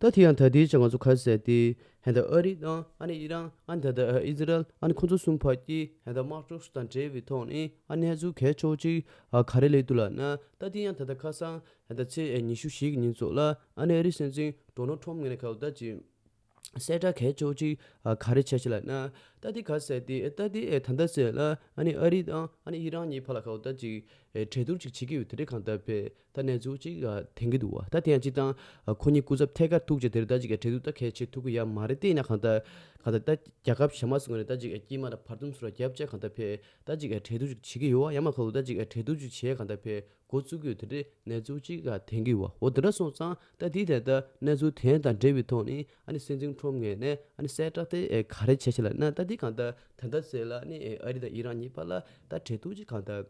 ད་དེ་ཡང་ད་ལྟའི་ཆར་ང་ཚོ་ཁ་གསལ་ཏེ་ཧན་ད་ཨ་རི་དང་ཨ་ནེ་ཨི་རན་ཨ་ད་ད་ཨི་ཟི་རལ་ཨ་ཁོ་ཚོ་གསུམ་བར་གྱི་ཧན་ད་དམག་གྲོས་དང་འབྲེལ་བའི་ཐོག་ནས་ཨ་གནས་ཚུལ་གལ་ཆོག་ཅིག་ག་རེ་ལས་འདུག་ལགས་ན་ད་དེ་ཡང་ད་ལྟ་ཁ་སང་ཧན་ད་ཚེས་ཉི་ཤུ་ཞེ་གི་ཉིན་ཚོགས་ལ་ཨ་ནེ་ཨ་རི་སྲིད་འཛིན Donald Trump ངེད་ནས་ཁ་བརྡ་བྱས་གསལ་སྒྲ་གས་ཅོག་གཅིག་ག་རེ་བྱས་ཤེ་ལ་ན། རྟ་དེ་ག་ཟེ་ཏེ་རྟ་དེ་ད་ལྟ་ཟེ་ལ་ཨ་ནི་ཨ་རི་དང་ཨ་ནི་ཨི་རང་གཉིས་བར་ལ་ཁ་བརྡ་ཅིག་གྲལ་བསྡུར་ཅིག་བྱེད་ཀྱི་ཡོད་དེ་འདྲས་གང་ལྟར་བས་ད་ནས་འཛུགས་ཅིག་དེང་གི་འདུག་ད་དེ་ཡང་ཅིག་དང་ཁོ་གཉིས་སྐུ་ཚབ་ཐད་ཀར་ཐུག་རྗེས་དེར་ད་ཅིག་ག་གྲལ་བསྡུར་རྟ་གས་བྱེད་ཐུབ་ཀྱི་ཡ་མ་རེད་ལྟས་ན་གང་ལྟར་གང་ལྟར་རྟ་རྒྱ་ཁབ་ཞྭ་དམར་སུ་ངོས་ནས་ད་ཅིག་ག་དཀྱིལ་མ་ལ་བར་འདུམ་སུ་ར་རྒྱབ་བཅས་གང་ལྟར་བས་ད་ཅིག་ག་གྲལ་བསྡུར་ཅིག་བྱེད་ཀྱི་ཡོད་ཨ་ཡ་མ་ཁ་ལུ་ད་ཅིག་ག་གྲལ་བསྡུར་ཅིག་བྱས་གང་ལྟར་བས་འགོ་བཙུགས་དུས་དེ་འདྲའི་གནས་ཚུལ་གཅིག་ལ་ཐེངས་གི་བ་འོ་དེ་འདྲ་སོང་ཙང་ད་དེའི་ཐད་དུ་གནས་ཚུལ་དེ་དང་འབྲེལ་བའི་ཐོག་ནས་ཨ་ནི་སྲིད་འཛིན་ཁྲོམ་ངས་ནས་ཨ་ནི་གསལ་བསྒྲགས་དེ་ག་རེ་བྱས་བྱས་ལ་ན་ད་དེ་གང་ལྟར་ད་ལྟ་ཟེར་ལ་ཨ་ནི་ཨ་རི་དང་ཨི་རན་གཉིས་བར་ལ་ད་འབྲེལ་ཐུག་ཅིག་གང་ལྟར་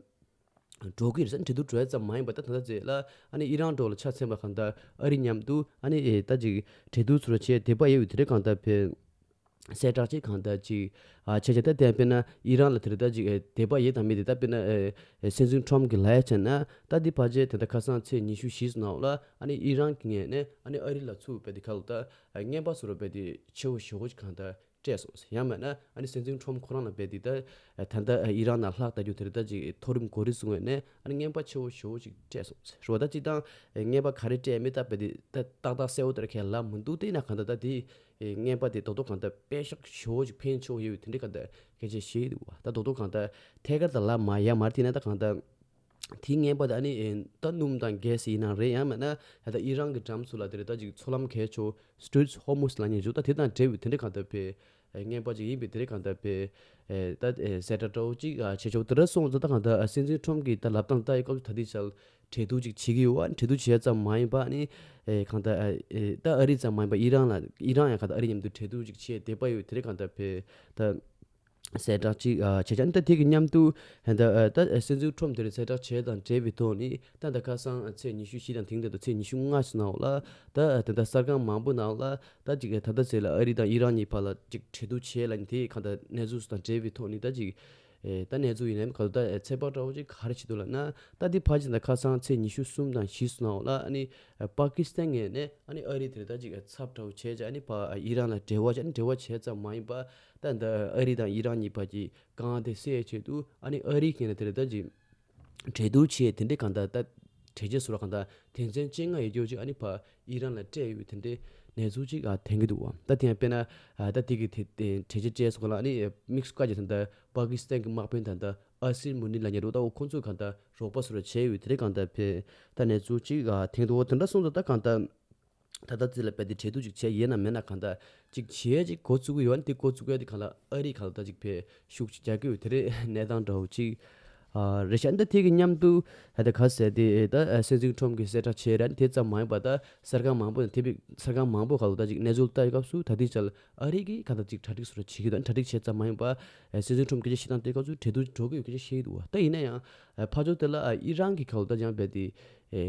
འགྲོ་གི་རེད་ས་འབྲེལ་ཐུག་བྲོས་ཙམ་མ་ཡིན་པ་ད་ད་ད་ཟེར་ལ་ཨ་ནི་ཨི་རན་འགྲོ་ལ་ཆ་ཚན་པ་གང་ལྟར་ཨ་རི་མཉམ་དུ་ཨ་ནི་ད་ཅིག་འབྲེལ་ཐུག་ཚུར་ལ་བྱས་དེ་བ་ཡའི་དབུས་དེ་འདྲའི་གང་ལྟར་བེད་གསལ་བསྒྲགས་བྱས་གང་ལྟར་གཅིག་ཁྱེད་ཀྱིས་ད་ལྟའི་དཔེར་ན་ཨི་རན་ལ་དེ་ལྟར་གཅིག་དད་པ་ཡོད་དམ་མེད་དེ་ལྟར་དཔེར་ན་སྲིད་འཛིན་ཁྲོམ་གྱི་ལྷའི་ཆ་ན་ད་དེ་བར་ཆད་དེ་ལྟར་ཁ་སང་ཚེས་ཉི་ཤུ་བཞི་ནང་ལ་ཨ་ནི་ཨི་རན་གྱི་ངས་ནས་ཨ་ནི་ཨ་རི་ལ་ཚུགས་པའི་དེ་ཁ་ལོ་ད་རྔན་པ་ཟོ་རོ་བས་དེ་ཆེ་བོ་ཞོ་གོ་གང་ལྟར་སྤྲད་སོང་ཟེར་ཡང་མེད་ན་ཨ་ནི་སྲིད་འཛིན་ཁྲོམ་ཁོ་རང་ལ་བས་དེ་ལྟར་ད་ལྟ་ཨི་རན་ན་ལྷག་བལྟ་རྒྱུ་དེ་ལྟར་གཅིག་མཐོ་རིམ་གོ་རིགས་སུ་ངོས་ནས་ཨ་ནི་རྔན་པ་ཆེ་བོ་ཞོ་བོ་གཅིག་སྤྲད་སོང་ཟེར་རོ་ད་གཅིག་དང་རྔན་པ་ག་རེ་སྤྲད་མེད་ད་བས་དེ་ཏག་ཏག་གསལ་བོ་ལྟར་ཁས་ལབ་མི་འདུག་དེས་ན་གང་ལྟར་ད་དེ་རྔན་པ་དེ་རྡོག་རྡོག་གང་དག་པད་ཤག་ཞོ་ཅིག་འཕེན་ཆོག་ཡོད་དེ་འདྲས་གང་དག་གལ་ཆེ་ཞེས་འདུག་ད་རྡོག་རྡོག་གང་དག་ཐད་ཀར་དང་ལག་མ་ཡར་མར་བསྟན་ན་ད་གང་དག་དེའི་རྔན་པ་དེ་ཨ་ནི་ད་སྣུམ་དང་གས་ཡིན་ན་རེད་ཡང་མེད་ན་ད་ལྟ་ཨི་རང་གི་འགྲམ་ཚུ་ལ་དེ་རེ་ད་ཅིག་ཚོ་ལམ་གས་ཆོག Straits Hormuz ལ་ཉེ་འཇུག་ད་དེ་དང་འབྲེལ་བའི་དེ་འདྲས་གང་དག་པའི་རྔན་པ་ཅིག་ཡིན་པས་དེ་རེ་གང་དག་པའི་ད་ཟས་སྒྲ་སྒྲོག་ཅིག་བྱས་ཆོག་དེ་འདྲ་སོང་ཚོ་ད་གང་དག་སྲིད་འཛིན Trump གིས་ད་ལབ་སྟངས་ད་ཡི་སྐབས་སུ་ད་དེ་བྱ་འཕྲལ་ཐུག་ཅིག་བྱེད་ཀྱི་འོག་འཕྲལ་ཐུག་བྱས་ཙམ་མ་ཡིན་པ་ནི། གང་ལྟར། ད་ཨ་རི་ཙམ་མ་ཡིན་པ་ཨི་རན་ལ་ཨི་རན་ཡང་གང་ལྟར་ཨ་རི་མཉམ་དུ་འཕྲལ་ཐུག་ཅིག་བྱས་བསྡད་པ་ཡོད་དེ་རིང་གང་ལྟར་བོད་ད། གསལ་བསྒྲགས་ཅིག་བྱས་ཀྱང་ད་དེ་གི་མཉམ་དུ། ད་ད་སྲིད་འཛིན་ཁྲོམ་དེར་གསལ་བསྒྲགས་བྱས་དང་བྲལ་བའི་ཐོག་ནི་ད་ད་ཁ་སང་ཚེས་ཉི་ཤུ་བཞི་དང་དེང་དེ་ད་ཚེས་ཉི་ཤུ་ལྔ་ཞིག་ནང་ལ། ད་དེ་ད་གསར་ཁང་མང་པོ་ནང་ལ་ད་ཅིག་ད་ད་ཚེས་ལ་ཨ་རི་དང་ཨི་རན་གཉིས་བར་ལ་ཅིག་འཕྲལ་ཐུག་བྱས་ལ་ནི་དེ་གང་ལྟར་གནས་ཚུལ་སུ་དང་བྲལ་བའི་ཐོག་ནི་ད་ཅིག། ད་ནས་ཙུག་ཡིན་ནམ་ག་ལ་ད་ཚེ་དཔག་ཏྲ་བོ་ཅིག་ག་རེ་བྱེད་འདུག་ལ་ན། ད་འདི་ཕར་ཕྱིན་དང་ཁ་སང་ཚེས་ཉི་ཤུ་གསུམ་དང་བཞི་སོང་ནའོ་ལ་ཨ་ནི། པ་ཀི་སི་ཐན་ངས་ནས་ཨ་ནི་ཨ་རི་དེར་ད་ཅིག་ཚབ་ཏྲ་བོ་བྱས་ཅིག་ཨ་ནི་པ་ཨི་རང་ལ་འབྲེལ་བ་བྱས་ཨ་ནི་འབྲེལ་བ་བྱས་ཙམ་མ་ཡིན་པ། ད་འདི་ཨ་རི་དང་ཨི་རང་གཉིས་བར་གྱི་གང་དེ་སེ་བྱེད་དུ་ཨ་ནི་ཨ་རིའི་མཁན་ལ་དེར་ད་ཅིག། གྲལ་བསྡུར་བྱས་དེ་འདྲས་གང་དག་ད། གྲལ་རྗེས་སུ་རག་གང་དག་དེང་ཚན་ཅན་ལྔ་ཡི་སྐྱོར་ཅིག་ཨ་ནི་བ་ཡིས་རང་ལ་སྤྲད་ཡོད་པའི་དེ་འདྲས་ནས་ཚུགས་ཅིག་ཨ་དེང་གི་འདུག་བ་ད་དེ་ཡང་དཔེར་ན། ད་དེ་གི་དེ་གྲལ་རྗེས་བཅས་སུ་གང་ལ་ཨ་ནི་དམིགས་སུ་བཀའ་རྒྱ་དང་ད་པཱ་ཀི་སི་ཐན་གི་དམག་དཔོན་དང་ད་ཨ་སིར་མུ་ནི་ལ་ཉེ་རོ་ད་འོ་ཁོང་ཚོས་གང་དག་རོགས་པ་སུ་ར་བྱས་ཡོད་པའི་དེ་འདྲས་གང་དག་བས་ད་ནས་ཚུགས་ཅིག་ཨ་དེང་དུ་འོ་དེ་འདྲ་གསུངས་སོ་ད་གང་དག། ད་ལྟ་རྩིས་ལ་འབད་དེ་འཕྲལ་དུ་ཅིག་བྱས་ཡས་ན་མེད་ན་གང་ལྟ། ཅིག་བྱས་ཅིག་གོ་བཙུགས་ཡོད་ན་དེ་གོ་བཙུགས་ཡས་དེ་གང་ལ་ཨ་རིག་གང་ལྟ་ཅིག་བས་ཤུགས་ཅིག་རྒྱག་གི་འོད་དེ་རེད་གནས་སྟངས་འདྲ་བོ་ཅིག། རེད་ཤ་འདི་ཐིག་གི་མཉམ་དུ་ད་ལྟ་ག་ཟེ་དེ་ད་སེ་འཛིང་ཁྲོམ་གི་སེ་ཁྲ་ཆེ་རན་དེ་ཙམ་མ་ཡིན་པ་ད་གསར་ཁང་མང་པོ་དང་དེ་བས་གསར་ཁང་མང་པོ་གང་ལ་ལྟ་ཅིག་གནས་ཚུལ་ལྟ་བའི་སྐབས་སུ་ད་ཐིག་བྱས་ལ་ཨ་རིག་གིས་གང་ལྟ་ཅིག་གྲ་སྒྲིག་སུ་ར་བྱེད་ཀྱི་འདུག་གྲ་སྒྲིག་བྱས་ཙམ་མ་ཡིན་པ་སེ་འཛིང་ཁྲོམ་སྐད་ཆ་བཤད་སྟངས་ལྟའི་སྐབས་སུ་འཕྲལ་དུ་འགྲོ་གི་ཡོད་སྐད་ཆ་བཤད་ཀྱི་འདུག་བ་ད་ཡིན་ན་ཡང་ཕ་ཆོག་དེ་ལ་ཨི་རན་གྱི་གོ་ལ་ལྟར་ཡང་བལ་དེ།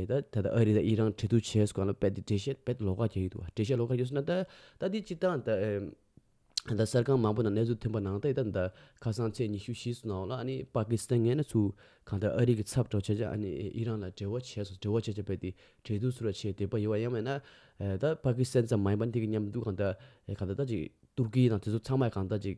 ད་ལྟ་ཨ་རི་དང་ཨི་རན་འབྲེལ་གཏུགས་བྱས་སུ་གང་ལ་བལ་དེ་འགྲེལ་བཤད་བལ་དེ་ལོགས་ཀ་གྱ་ཡོད་འདུག་བ་འགྲེལ་བཤད་ལོགས་ཀ་ཡོད་ཟེར་ན་ད་ལྟ་དེ་སྤྱི་ཐང་ད། གསར་ཁང་མང་པོ་ནང་གནས་ཚུལ་ཐོན་པ་ནང་ད་ཨི་ད་ཁ་སང་ཚེས་ཉི་ཤུ་བཞི་སུ་ནང་ལ་ཨ་ནི་པ་ཀི་སི་ཐན་ངན་ན་ཚུ་གང་ལྟར་ཨ་རི་གི་ཚབ་ཏྲོགས་བྱས་རྗེས་ཨ་ནི་ཨི་རན་ལ་འབྲེལ་བ་བྱས་སུ་འབྲེལ་བ་བྱས་རྗེས་བལ་དེ་འབྲེལ་གཏུགས་ཚུར་ལ་བྱས་དེ་པ་ཡོད་བ་ཡང་མེད་ན། ད་པ་ཀི་སི་ཐན་ཙམ་མ་ཡིན་པ་འདི་གི་མཉམ་འདུག་གང་ལྟར་གང་ལྟར་ད་ཅིག་ཏུར་ཀི་ཡི་ནང་དེ་ཚོ་ཚང་མ་གང་ལྟར་ཅིག་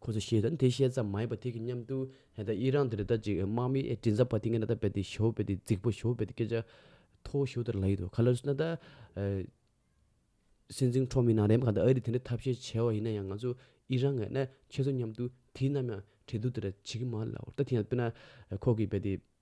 ཁོ་ཚོས་ཤེས་དང་དེ་བཤད་ཙམ་མ་ཡིན་པར་དེ་གི་མཉམ་དུ་ཧད་ད་ཡིད་རང་དེ་རི་དྭགས་ཅིག་དམག་མི་ཨེ་དྲིན་ཟ་བ་དེ་ངས་ན་ད་བད་དེ་ཞོ་བད་དེ་རྫིག་པོ་ཞོ་བད་དེ་སྐད་ཆ་ཐོ་བོ་ཞོ་དེར་ལ་ཡིད་དོ་ག་ལེར་སོ་ན་ད། སྲིད་འཛིན་ཁྲོ་མི་ནང་རེམ་ག་ད་ཨ་རི་དེ་འདྲའི་ཐབས་ཤེས་བྱས་བ་ཡིན་ན་ཡང་ང་ཚོ་ཡིད་རང་ངས་ན་ཁྱེད་ཚོ་མཉམ་དུ་དེ་ནམ་ཡང་བྲེལ་དུ་དེ་ར་བྱེད་གི་མ་རེད་ལ་འོ་ད་དེ་ཡང་དཔེར་ན་ཁོ་གི་བད་དེ།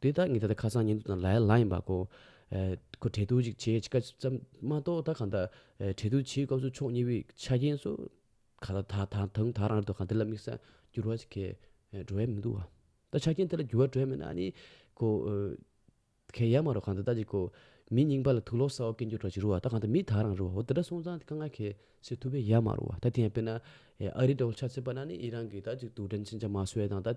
དེ་བདག་གཉིས་ད་ལྟ་ཁ་སང་ཉིན་ཐོ་དང་ལ་ཡ་ལ་ཡིན་པ་གོ། ཁོ་འཕྲད་ཐུག་ཅིག་བྱེད་ཅིག་ཀ་ཙམ་མ་གཏོགས་ད་གང་ལྟར་འཕྲད་ཐུག་བྱེད་སྐབས་སུ་ཕྱོགས་གཉིས་པོའི་ཆ་རྐྱེན་སོགས་ག་ལ་དག་ད་དུང་ད་རང་དུ་གང་ཐད་ལ་དམིགས་ས་འགྱུར་བ་ཞིག་གས་འགྲོ་ཡ་མི་འདུག་བ། ད་ཆ་རྐྱེན་ཐད་ལ་འགྱུར་བ་འགྲོ་ཡ་མེད་ན་ནི་ཁོ། གས་ཡ་མ་རོ་གང་ལྟར་ད་ཅིག་གོ། མི་རྙིང་པ་ལ་ཐུགས་ལོག་ས་འོག་སྐད་འགྱུར་གྲོགས་ཅིག་རུ་བ་ད་གང་ལྟར་མི་ད་རང་རུ་བ་འོ་དེ་འདྲ་སོང་ཙང་དེ་གང་ག་གས་སེ་ཐུབ་པས་ཡ་མ་རུ་བ་ད་དེ་ཡང་དཔེར་ན། ཨ་རི་འདྲ་བོ་ཆ་ཚེས་པ་ན་ནི་ཨི་རང་གིས་ད་ཅིག་དུག་སྦྲན་ཕྱིན་ཆ་མ་བཟོས་དང་ད།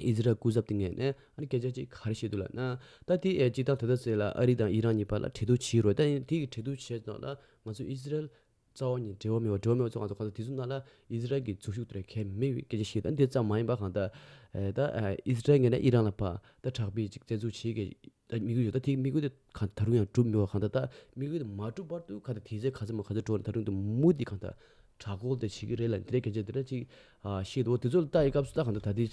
ཨི་ཟི་རལ་སྐུ་ཚབ་དེ་ངས་ནས་ཨ་རིའི་སྐད་ཆ་གཅིག་ག་རེ་བཤད་འདུག་ལགས་ན། ད་དེ་ཨེ་གཅིག་ཐང་དེ་ད་ཟེར་ལ་ཨ་རི་དང་ཨི་རན་གཉིས་བར་ལ་འཕྲད་ཐུག་བྱེད་རོགས་ད་ཡིན་དེ་འཕྲད་ཐུག་བྱས་ཙང་ལ་ང་ཚོ་ཨི་ཟི་རལ་རྩ་བ་ཉིད་འབྲེལ་བ་མེད་བ་འབྲེལ་བ་མེད་བ་ཚོ་ང་ཚོ་གང་ཟག་དེ་ཚོ་རྣམས་ལ་ཨི་ཟི་རལ་གྱི་འཛུགས་ཤུགས་དེ་ལ་ཁས་མི་བི་སྐད་ཆ་བཤད་ད་འདི་ཙམ་མ་ཡིན་པ་གང་ལྟར། ད་ཨི་ཟི་རལ་ངས་ནས་ཨི་རན་ལ་བར་ད་དྲག་པའི་ཅིག་བཙན་འཛུགས་བྱེད་དགོས། ད་དམིགས་ཡུལ་ཡོད་ད་དེ་དམིགས་ཡུལ་དེ་ད་རུང་ཡང་གྲུབ་མི་བ་གང་དག་ད་དམིགས་ཡུལ་དེ་མ་གྲུབ་བར་དུ་ག་དེ་དེ་ཚེ་ག་ཚོད་མ་ག་ཚོད་འགྲོ་ད་རུང་དེ་མུ་ཏིག་གང་དག་དྲག་གོ་དེ་བྱེད་ཀྱི་རེད་ལ་དེ་འདྲ་གལ་ཆེ་དེ་འདྲ་ཅིག་ཤེས་འདུག་དེ་ཚོ་ལྟ་ཡི་སྐབས་སུ་ད་གང་ད་ད་དེ་བྱ།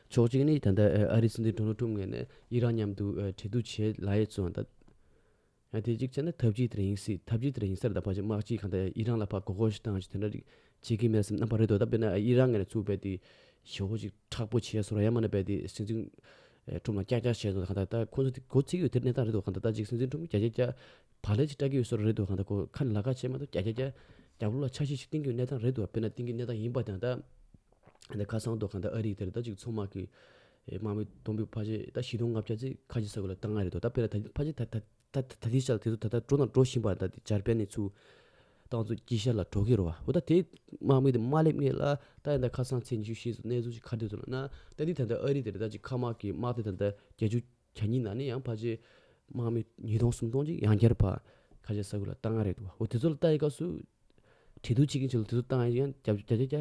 ཕྱོགས་གཅིག་ནི་ད་ལྟ་ཨ་རིའི་སྲིད་འཛིན Donald Trump ངས་ནས་ཨི་རན་མཉམ་དུ་འབྲེལ་གཏུག་བྱེད་ལ་ཡས་ཚོའང་ད། ཡང་དེ་གཅིག་བྱས་ན་ཐབས་ཅིག་དེར་ཡིན་སྲིད་ཐབས་ཅིག་དེར་ཡིན་སར་ད་ཕངས་ཅི་མ་ཅི་གང་ད་ཡང་ཡིད་རང་ལ་ཕ་གོ་གོ་ཞིག་བཏང་ཅིག་དེ་འདྲ་རིགས་བྱེད་ཀྱི་མེད་སེམས་རྣམ་པ་རེད་དོ་ད་དཔེར་ན་ཡིད་རང་ངེད་ལ་ཚུར་བལྟས་ཏེ། ཞེ་བོ་ཅིག་ཁྲག་པོ་ཆེ་སོ་ར་ཡ་མ་ན་བལྟས་ཏེ་སེམས་ཅན། ཁྲོམ་ལ་ཀྱག་ཀྱག་བྱས་སོང་ད་གང་ད་ད་ཁོ་ཚོ་དེ་གོ་ཚིག་ཡོད་དེ་གནས་སྟངས་རེད་དོ་གང་ད་ད་ཅིག་སེམས་ཅན་ཁྲོམ་ཀྱག་ཀྱག་ཀྱག། བག་ལེབ་ཅིག་སྐྲག་གི་ཡོད་སོ་ར་རེད་དོ་གང་ད་ཁོ་ཁ་ནས་ལ་ཁ་བྱས་མ་ཐག་ཀྱག་ཀྱག་ཀྱག། རྒྱ་བོ་ལ་ཆ་ཤས་ཤིག་བཏིང་གི་ཡོད་གནས་སྟངས་རེད་དོ་དཔེར་ན་བཏིང་གི་གནས་སྟངས་ཡིན་པ་དང་ད། ད་ཁ་སང་དོ་གང་ད་ཨ་རིག་དེར་ད་ཅིག་མཚོ་དམག་གི། དམའ་མོའི་སྡོང་པོའི་ཕ་ཆེན་ད་བཞི་སྟོང་ལྔ་བརྒྱ་ཚེ་ཁ་ཆེ་ས་དགོས་ལ་ད་ང་རེད་དོ་ད་དཔེར་ན་ད་ཕ་ཆེན་ད་ད་ད་དེའི་ཤ་ལ་དེ་ཚོ་ད་ད་འགྲོ་དང་འགྲོ་བཞིན་པ་ད་འཇར་པན་ནས་ཚུར་ཏང་ཙུའུ་སྐྱིད་ཤར་ལ་འགྲོ་གི་རོ་བ་འོ་ད་དེ་དམའ་མོའི་དེ་དམའ་ལེབ་ངན་ལ་ད་ཡང་ད་ཁ་སང་ཚེས་ཉི་ཤུ་ཤེས་ཚོ་གནས་ཚུལ་ཅིག་ཁ་བསྡུས་ཚོ་ན་ན་ད་འདི་ད་ད་ཨ་རི་དེ་རེད་ད་ཅིག་ཁ་དམག་གི་དམག་དེ་ད་ད་བརྒྱད་ཅུ་གྱ་གཉིས་ན་ནས་ཡང་ཕ་ཆེན་དམའ་མོའི་ཉིས་སྟོང་སུམ་སྟོང་ཅིག་ཡང་བསྐྱར་ཕ་ཁ་ཆེ་ས་དགོས་ལ་ད་ང་རེད་དོ་བ་འོ་དེ་ཚོ་ལ་ལྟ་ཡི་སྐབས་སུ་དྲིན་དུ་ཆེ་གིན་ཆེ་ལ་དེ་ཚོ་ཏང་ཡང་བརྒྱ་བརྒྱ་བརྒྱ་བརྒྱ་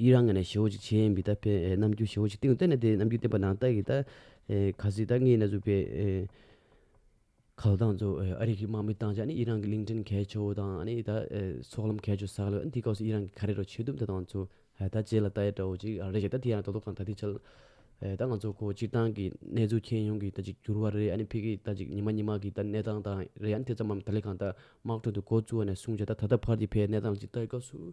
ཡིད་རང་ངེ་ནས་ཞེའོ་ཅིག་བྱའི་འབི་ད་པས་རྣམ་འགྱུར་ཞེའོ་ཅིག་སྟེང་དུ་བསྟན་ནས་དེ་རྣམ་འགྱུར་བསྟན་པ་ནང་ལྟ་ཡི་ད་ག་ཟི་ད་ངེ་ན་གཟུགས་པའི། ག་ལ་དང་ཚོ་ཨ་རིག་གི་དམག་མི་བཏང་བྱ་ནི་ཡིད་རང་གི་གླིང་ཕྲན་གས་ཆོ་དང་ནི་ད་ཚོགས་ལམ་གས་ཆོ་ཟག་ལ་འདི་སྐབས་སུ་ཡིད་རང་གི་ག་རེ་རོ་ཆོས་དུམ་ད་དང་ཚོ་ད་བྱས་ལ་ད་ཡ་དྲའོ་ཅིག་རེ་ཞིག་ད་དེ་ཡང་ད་དོ་གང་ད་དེ་བྱ་ལ། ད་ང་ཚོ་ཁོ་སྤྱིར་བཏང་གི་གནས་ཚུལ་མཁྱེན་ཡོང་གི་ད་ཅིག་གྱུར་བ་རེད་ཨ་ནི་ཕི་གི་ད་ཅིག་ཉི་མ་གཉིས་མ་གི་ད་གནས་སྟངས་དང་རེད་ཨ་ནི་དེ་ཙམ་མམ་ད་ལས་གང་ད་དམག་ཁྲོད་དུ་འགོ་བཙུགས་བ་ནས་བཟུང་བྱ་ད་ད་ལྟ་བར་གྱི་ཕའི་གནས་སྟངས་ལ་ཅིག་ལྟ་ཡི་སྐབས་སུ།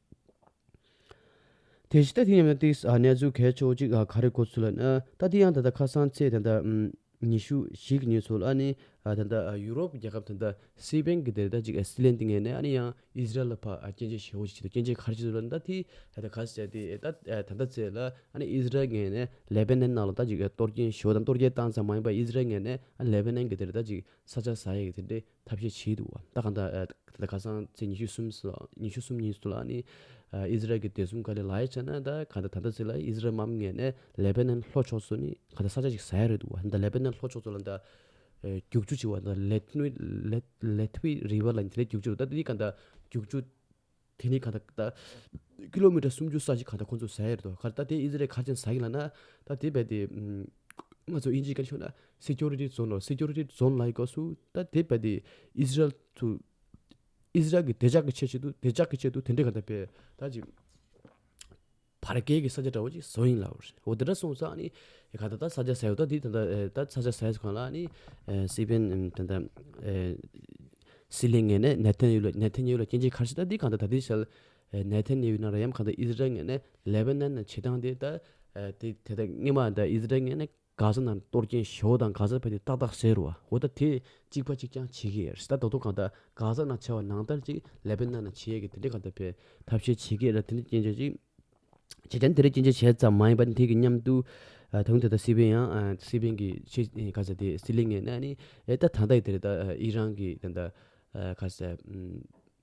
དེ་ཕྱི་ལྟ་དེ་ཉམས་ལེན་ཏེ་གནས་ཚུལ་གལ་ཆོག་ཅིག་ག་རེ་གོ་ཚུལ་ལ་ན་ལྟ་དེ་ཡང་ད་ལྟ་ཁ་སང་ཚེས་དང་ཟླ་ཉི་ཤུ་ཞིག་ཉིན་ཚོ་ལ་ནི་ད་ལྟ་ཡུ་རོབ་རྒྱལ་ཁབ་དང་ད་སི་པན་གྱི་དེ་ད་ཅིག་སི་ལན་ཏི་ངས་ནས་ཨ་ནི་ཡང་ཨིས་རལ་ལ་ཕ་སྐྱེ་མཆེད་ཞེ་བོ་ཅིག་བྱེད་དུ་སྐྱེ་མཆེད་གར་བྱེད་ཚུལ་ལ་ནི་ད་དེ་ད་ད་ག་ས་ཅག་དེ་ད་ད་ད་ཚེས་ལ་ཨ་ནི་ཨིས་རལ་ངས་ནས་ལེ་བྷེ་ནན་ནང་ལ་ད་ཅིག་གཏོར་སྐྱེན་ཞེ་བོ་དང་གཏོར་རྒྱལ་བཏང་ཙང་མ་ཡིན་པ་ཨིས་རལ་ངས་ནས་ཨ་ནི་ལེ་བྷེ་ནན་གྱི་དེ་ད་ཅིག་ས་ཆ་ས་ཡ་གི་དེ་འདྲའི་ཐབས་ཤེས་བྱས་འདུག་ད་ག་ནྡ་ཁ་སང་ཚེས་ཉི་ཤུ་གསུམ་ཉི་ཤུ་གསུམ་ཉིན་སུ་ལ་ནི་ཨི་ཟི་རལ་གྱི་དད་གསུམ་ཀ་ལེ་ལ་ཡ་ཆ་ན་ད་ག་ནྡ་ད་ལྟ་ཚེ་ལ་ཨི་ཟི་རལ་མམ་ངེས་ནས་ལེ་བྷེ་ནན་ལྷོ་ཕྱོགས་སུ་ནི་ག་ནྡ་ས་ཆ་ཞིག་ཟ་ཡ་རེད་འདུག་ད་ལེ་བྷེ་ནན་ལྷོ་ཕྱོགས་སུ་ལ་ནྡ་རྒྱུག་ཆུ་ཆེ་བ་ནྡ་ལེ་ཐི་ལེ་ཐི་བྷི་རི་བྷི་ལ་ནི་དེ་ལས་རྒྱུག་ཆུ་རུ་ད་དེ་ག་ནྡ་རྒྱུག་ཆུ་དེ་ནི་ག་ད་ད། ཀི་ལོ་མི་ཀྲ་སུམ་ཅུ་ས་གཞི་ག་ད་ཁོ་ཚོ་ཟ་ཡི་རེད་དོ། ག་ད་དེ་ཨི་ཟི་རལ་ཁ་ཆེན་ཟ་གི་ལ་ན། ད་དེ་བས་དེ། ང་ཚོ་ཨི་འཇིའི་ཀ་ཆོ་ན། སི་ཀྱོ་རི་ཏི་ཛོན་ནོ་སི་ཀྱོ་རི་ཏི་ཛོན་ལ་ཡི་སྐབས་སུ། ད་དེ་བས་དེ། ཨི་ཟི་རལ་དུ། ཨི་ཟི་རལ་གྱི་བདེ་འཇགས་ཀྱི་ཆེད་ཆེད་དུ་བདེ་འཇགས་ཀྱི་ཆེད་དུ་དེ་འདྲས་ག་ད་བས། ད་ཅི། བར་བརྒལ་གྱི་ས་ཆ་འདྲ་བོ་གཅིག་བཟོ་ཡིན་ལབ་རེད་འོ་དེ་འདྲ་སོང་ཙང་ནི། ག་ད་ད་ས་ཆ་ཟེར་ད་འདི་ད་ད་ད་ས་ཆ་ཟེར་གང་ལ་ནི། སི་པན་ད་ད། སི་ལི་ངན་ནས་ནེ་ཐན་ཡུ་ལ་ནེ་ཐན་ཡུ་ལ་སྐྱེ་འཇིག་ཁར་སི་ད་འདི་གང་ད་ད་འདི་ཞལ། ནེ་ཐན་ཡུ་ན་ར་ཡམ་གང་ད་ཨིས་རལ་ངན་ནས་ལེ་བྷ་ནན་ནས་བྱེད་སྟངས་དེ་ད། དེ་དེ་ད་སྔོན་མ་ད་ཨིས་རལ་ངན་ནས། ག་ས་ན་གཏོར་སྐྱེན་བྱེད་འོ་དང་ག་ས་བས་ནི་ཏག་ཏག་ཟེར་རོ་འོ་ད་དེ་གཅིག་པ་གཅིག་ཀྱང་བྱེད་ཀྱི་ཡེར་སི་ད་ད་དུང་གང་ལྟར་ག་ས་ན་ཆེ་བ་ནང་ལྟར་ཅིག་ལས་པའི་སྣ་ན་བྱེད་ཡས་ཀྱི་དེ་འདྲས་གང་ལྟར་བས་ཐབས་ཤེས་བྱེད་ཀྱི་ཡེར་ད་དེ་འདྲས་སྐྱེན་བྱེད་ཅིག་བྱེད་ཀྱང་དེ་འདྲས་སྐྱེན་བྱེད་བྱས་ཙམ་མ་ཡིན་པ་ནི་དེ་གི་མཉམ་དུ་ད་དུང་དེ་ད་སི་པན་ཡང་སི་པན་གྱི་ཆེས་ག་ས་དེ་སི་ལི་ངའི་སྣ་ནི་ཡེར་ད་ད་ལྟ་ཡི་དེ་རེད་ད་ཨི་རང་གི་དེ་ད་ག་ས་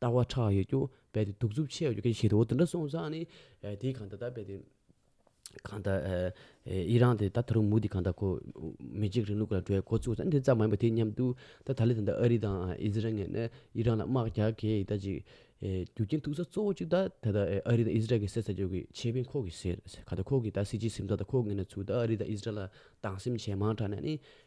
ལྟ་བ་ཕྲག་ཡོད་རྒྱུ་རྦད་དེ་གདུག་རྩུབ་ཆེ་ཡོད་རྒྱུ་གལ་ཆེ་ཞིག་རེད་འོ་དེ་འདྲ་སོང་ཙང་ནི་དེའི་གང་ད་ལྟ་རྦད་དེ་གང་ད་ཨི་རན་དེ་ད་ད་རུང་མུ་དེ་གང་ད་ཁོ་མི་འཇིགས་རིང་ལུགས་ལ་འགྲོ་བའི་འགོ་བཙུགས་ཙང་དེ་ཙམ་མ་ཡིན་པ་དེ་མཉམ་དུ་ད་ད་ལི་དང་ཨ་རི་དང་ཨི་ཟི་རལ་ངན་ནས་ཨི་རན་ལ་དམག་རྒྱག་གེ་ད་ཅིག་རྒྱུ་རྐྱེན་ཐུག་ས་གཙོ་བོ་གཅིག་ད་ད་ད་ཨ་རི་དང་ཨི་ཟི་རལ་གྱི་སེར་ས་རྒྱུག་གི་ཆེ་དཔོན་ཁོ་གི་སེར་ས་གང་ད་ཁོ་གི་ད་སྲིད་སྤྱིའི་སེམས་ཚགས་ད་ཁོ་ངན་ནས་ཚུར་ད་ཨ་རི་དང་ཨི་ཟི་རལ་ལ་སྡང་སེམས་ཇེ་མང་དྲགས་ནས་ནི་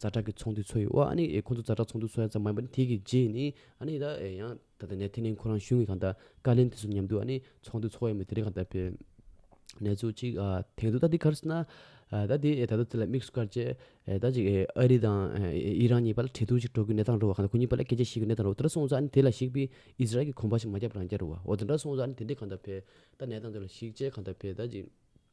རྫ་དྲག་གི་ཚོང་འདུས་ཚོ་ཡིས་ཨོ་ཨ་ནི་ཁོང་ཚོ་རྫ་དྲག་ཚོང་འདུས་ཚོ་ཡ་ཙམ་མ་ཡིན་པ་ནི་དེ་གི་རྗེས་ནི་ཨ་ནི་ད་ཡང་ད་ད་ནས་དེ་ནི་ཁོ་རང་གཞུང་གི་གང་ད་བཀའ་ལན་དེ་ཚོ་ཉམས་དུས་ཨ་ནི་ཚོང་འདུས་ཚོ་ཡ་མི་དེ་རིགས་གང་ད་པེ་ནས་ཚུ་གཅིག་ཨ་དེང་དུ་ད་དེ་ག་རེ་ཟེར་ན་ཨ་ད་དེ་ད་ད་དེ་ལ་དམིགས་སུ་བཀར་རྗེས་ཨེ་ད་ཅིག་ཨ་རི་དང་ཨི་རན་གཉིས་པ་ལ་འབྲེལ་གཏུག་ཅིག་འགྲོ་དགོས་གནས་སྟངས་རོ་གང་ད་ཁོ་གཉིས་པ་ལ་སྐད་ཆ་བཤད་དགོས་གནས་སྟངས་རོ་དེ་འདྲ་སོང་ཚ་ཨ་ནི་དེ་ལ་གཞིགས་པའི་ཨིས་རལ་གྱི་གོམ་པ་ཞིག་མ་བརྒྱབ་རང་རྒྱལ་རུ་བ་འོ་དེ་འདྲ་སོང་ཚ་ཨ་ནི་དེ་འདྲས་གང་ད་བེ་ད་ནས་སྟངས་དེ་ལ་གཞིགས་རྗེས་གང་ད་བེ་ད་ཅིག།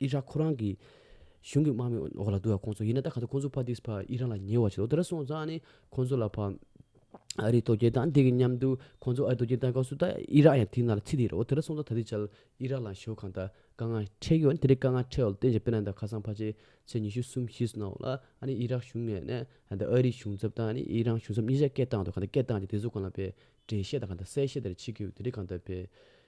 ཨི་རག་ཁོ་རང་གི་གཞུང་གི་དམག་མི་འོག་ལ་འདུག་ཡ་ཁོང་ཚོ་ཡིན་ན་ད་ག་ཚོད་ཁོང་ཚོ་ཕ་དིས་ཕ་ཨི་རན་ལ་ཉེ་བ་ཞིག་འདུག་དེ་འདྲ་སོང་ཙང་ནི་ཁོང་ཚོ་ལ་ཕ་ཨ་རིའི་དོ་རྒྱལ་དང་དེ་གི་མཉམ་དུ་ཁོང་ཚོ་ཨ་རི་དོ་རྒྱལ་དང་སྐབས་སུ་ད་ཨི་རག་ཡང་དེ་ན་ལ་ཚིག་དེ་རེད་འོ་དེ་འདྲ་སོང་ཙང་ད་དེ་བྱ་ཨི་རག་ལ་ཞོ་གང་ད་དཀའ་ངལ་འཕྲད་ཀྱི་ཡོད་དེ་འདྲའི་དཀའ་ངལ་འཕྲད་འོག་ལ་བརྟེན་བྱ་པེ་ན་ད་ཁ་སང་ཕ་ཆེ་ཚེ་ཉི་ཤུ་གསུམ་བཞིས་སོང་འོག་ལ་ཨ་ནི་ཨི་རག་གཞུང་ནས་ནས་ད་ཨ་རིའི་གཞུང་ཚབ་དང་ཨི་རན་གཞུང་ཚབ་གཉིས་ཆ་སྐད་བཏང་འདུག་ག་ད་སྐད་བཏང་ཅིང་དེ་ཚོ་གང་ལ་བས་འགྲེལ་བཤད་དང་ག་ད་གསལ་བཤད་དེ་ར་བྱེད་ཀྱི་ཡོད་དེ་འདྲའི་གང་ད་བས།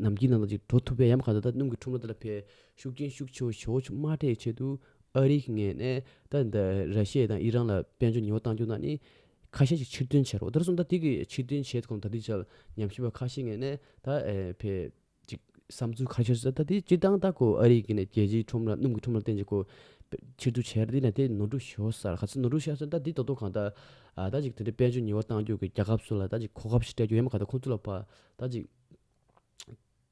ནམ་མཁའི་ནང་དུ་ཅིག་འགྲོ་ཐུབ་པའི་ཡམས་གང་དུ་ད་སྣུམ་གྱི་ཁྲོམ་ར་དེ་ལ་ཕེབས། ཤུགས་རྐྱེན་ཤུགས་ཆེ་བ་ཞོག་ཆུ་དམར་ཁྲའི་ཆེད་དུ་ཨ་རིའི་ངས་ནས་ད་ད་ར་ཤེ་དང་ཨི་རང་ལ་དཔལ་འབྱོར་ཉི་བ་གཏང་རྒྱུ་ན་ནི། ཁ་ཤས་ཅིག་ཕྱིར་འདོན་བྱེད་རོགས་ད་ར་སོང་ད་དེ་གི་ཕྱིར་འདོན་བྱེད་གོང་ད་དེ་བྱ་ཉམས་ཞིབ་པ་ཁ་ཤས་ངས་ནས་ད་ཕེབས། ཅིག་བསམ་ཚུལ་ཁ་ཤས་སོ་ད་དེ་སྤྱིར་བཏང་ད་ཁོ་ཨ་རིའི་གི་ནས་རྒྱལ་སྤྱིའི་ཁྲོམ་ར་སྣུམ་གྱི་ཁྲོམ་ར་བརྟེན་ཅིག་ཁོ། ཕྱིར་བསྡུ་བྱས་ར་དེ་ན་དེ་ནོར་འཁྲུལ་ཞོག་སར་ག་ཚོད་ནོར་འཁྲུལ་ཤར་སོང་ད་དེ་ད་དུང་གང་ད། ད་ཅིག་དེ་འདྲའི་དཔལ་འབྱོར་ཉི་བ་གཏང་རྒྱུ་གི་རྒྱ་ཁབ་སུ་ལ་ད་ཅིག་གོ་སྐབས་ཤིག་སྤྲད་རྒྱུ་ཡམས་གང་དུ་ཁོང་ཚོ་ལ་ཕ་ད་ཅིག།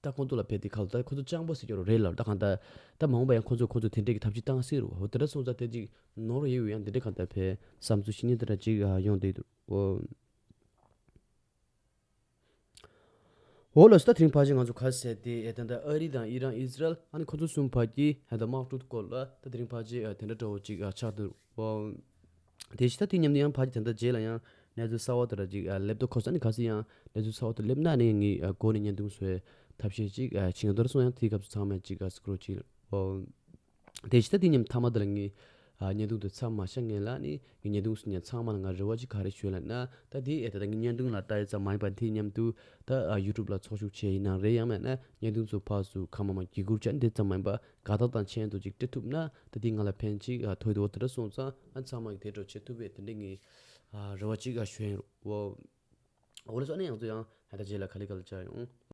ད་ཁོང་ཚོ་ལ་ཕེབས་ཏེ་ཁ་ལོ་ད་ཁོ་ཚོ་སྤྱང་པོ་ཟེར་རྒྱུ་རོ་རེད་ལབ་ད་གང་ལྟར། ད་མ་འོངས་པ་ཡང་ཁོ་ཚོས་ཁོ་ཚོ་དེ་འདྲས་ཀྱི་ཐབས་ཅིག་བཏང་སྲིད་རོ་འོ་དེ་འདྲ་སོང་ཙང་ཐེངས་གཅིག་ནོར་ཡོད་ཡོད་ཡང་དེ་འདྲས་གང་ལྟར་ཕེབས། བསམ་ཚུལ་ཤི་ཉེན་དེ་འདྲ་ཅིག་ཡོང་འདུག་འོ། འོ་ལོ་སི་ད་ཐེངས་ཕར་ཕྱིན་ང་ཚོ་ཁ་གསལ་ཏེ་ད་ལྟ་ཨ་རི་དང་ཨི་རན་ཨིས་རལ་ཨ་ནི་ཁོ་ཚོ་གསུམ་བར་གྱི་དམག་འཁྲུག་སྐོར་ལ་ད་དེ་རིང་ཕར་ཕྱིན་དེ་འདྲ་གྲོགས་བོ་ཅིག་ཆགས་འདུག་འོ། དེ་བཞིན་ད་དུས་མཉམ་དུ་ཡང་ཕ་རྗེས་དེ་འདྲ་རྗེས་ལ་ཡང་གནས་ཚུལ་གསར་བ་དེ་འདྲ་ཅིག་སླེབས་དུ་ཁོ་ས་ནི་ག་ཚོད་ཡང་གནས་ཚུལ་གསར་བ་དེ་སླེབས་ན་ནི་ངའི་སྒོ་ནས་བརྙན་ཐུང་བཟོས་ཐབས་ཤེས་ཅིག་བྱེད་ང་རྡོར་སོང་ཡང་དེའི་སྐབས་སུ་ཚང་མས་ཅིག་སྐུ་རུ་བཅིལ་ཨོ། དེ་བཞིན་ད་དུས་མཉམ་མཐའ་མ་དེ་ལ་ངའི་བརྙན་ཐུང་དེ་ཚར་མ་བྱ་ངེས་ལ་ནི་ངའི་བརྙན་ཐུང་སུ་ཉར་ཚང་མ་ལ་ང་རེ་བ་ཅིག་ག་རེ་བྱོས་ལ་ན་ད་དེ་ཨེ་ད་ད་ངའི་བརྙན་ཐུང་ལ་ལྟ་ཡོད་ཙམ་མ་ཡིན་པར་དེ་མཉམ་དུ་ད་ཡུ་ཏུབ་ལ་ཚོགས་ཞུགས་བྱེད་ཡི་ནང་རེད་ཡང་མེད་ན་བརྙན་ཐུང་ཚོ་ཕག་སུ་གང་མ་མ་གྱི་གུར་ཅག་འདི་ཙམ་མ་ཡིན་པར་ག་དག་དང་མཆན་དུ་ཅིག་སྤྲད་ཐུབ་ན་ད་དེ་ང་ལ་ཕན་ཅིག་ཐོས་དོ་དེ་འདྲ་གསུངས་ཙང་ཨ་ཚང་མ་གིས་དེ་འདྲ་བྱེད་ཐུབ་པའི་དེ་འདྲའི་ངའི་རེ་བ་ཅིག་གཞོན་འོ་ཨོ་ལེ་སོ་ཨ་ནེ་ཡང་ཚོ་ཡང་ཧད་ད་རྗེས་ལ་ག་ལེ་ག་ལ་བྱ་ཡོང།